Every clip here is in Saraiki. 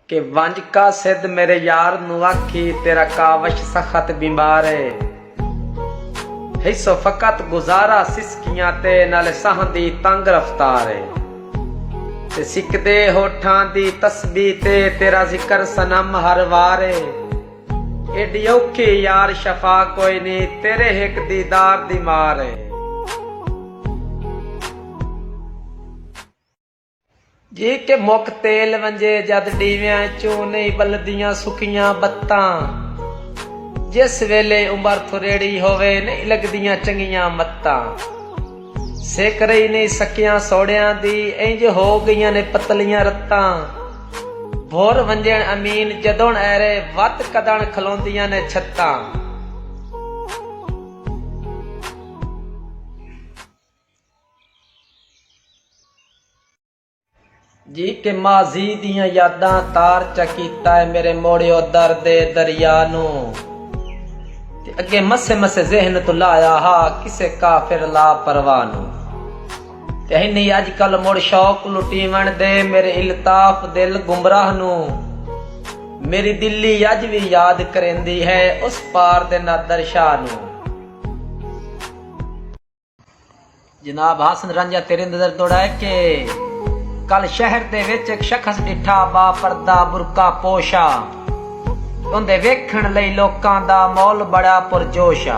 کہ ونج قاصد میݙے یار نوں آکھی تیݙا کاوش سخت بیمار اے ہیسو فقط گزارا سسکیاں تے نالے ساہاں دی تنگ رفتار اے تے سکدے ہوٹھاں دی تسبیح تے تیݙا ذکر صنم ہر وار اے ایݙی اوکھی یار شفا کوئی نی تیݙے ہک دیدار دی مار اے۔ جی کہ مک تیل ونجے جد ڈیویاں اچوں نہیں بلدیاں سکیاں بتاں جس ویلے عمر تھریڑی ہووے نہیں لگدیاں چنگیاں متاں سک رہی نہیں سکیاں سوڑیاں دی اینج ہو گئیاں نے پتلیاں رتاں بھر ونجن امین جدن ایرے وت کدن کھلوندیاں نے چھتاں۔ جی کہ ماضی دیاں یاداں تار چا کیتا اے میرے موڑیو درد اے دریا نوں تے اگے مسے مسے ذہن توں لایا ہا کسے کافر لا پرواہ نوں تے ہنی اج کل مڑ شوق لٹیون دے میرے الطاف دل گمراہ نوں میری دلی اج وی یاد کریندی ہے اس پار دے نادر شاہ نوں جناب حسن رنجہ تیرے نظر دوڑا ہے کہ کل شہر دے وچ ایک شخص ڈٹھا با پردہ برکا پوشا اندے ویکھن لئی لوکاں دا مول بڑا پرجوشا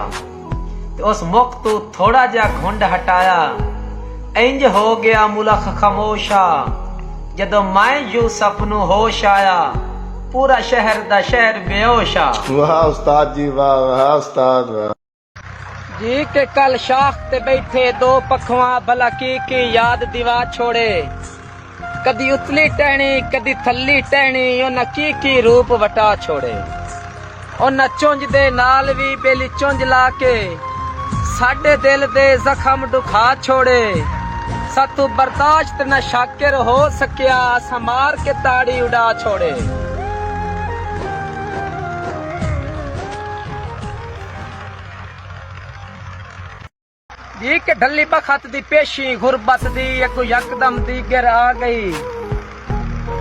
تے اس مک تو تھوڑا جا گھنڈ ہٹایا انج ہو گیا ملخ خموشا جدو میں یوسف نو ہوش آیا پورا شہر دا شہر بیوشا واہ استاد جی واہ واہ استاد واہ جی کہ کل شاخ تے ٻیٹھے دو پکھواں بھلا کی کی یاد دیوا چھوڑے کدی اتلی ٹہنی کدی تھلی ٹہنی انہاں کی کی روپ وٹا چھوڑے انہاں چنج دے نال وی ٻیلی چنج لا کے ساڈے دل دے زخم ڈکھا چھوڑے ساتوں برداشت نہ شاکر ہو سکیا اساں مار کے تاڑی اڈا چھوڑے۔ جی کہ ڈھلی بخت دی پیشی غربت دی اگو یکدم دی گر آ گئی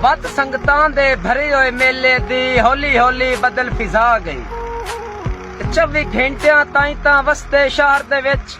بد سنگتان دے بھرے ہوئے میلے دی ہولی ہولی بدل فضا گئی چوی گھنٹیاں تائیں تاں وستے شہر دے وچ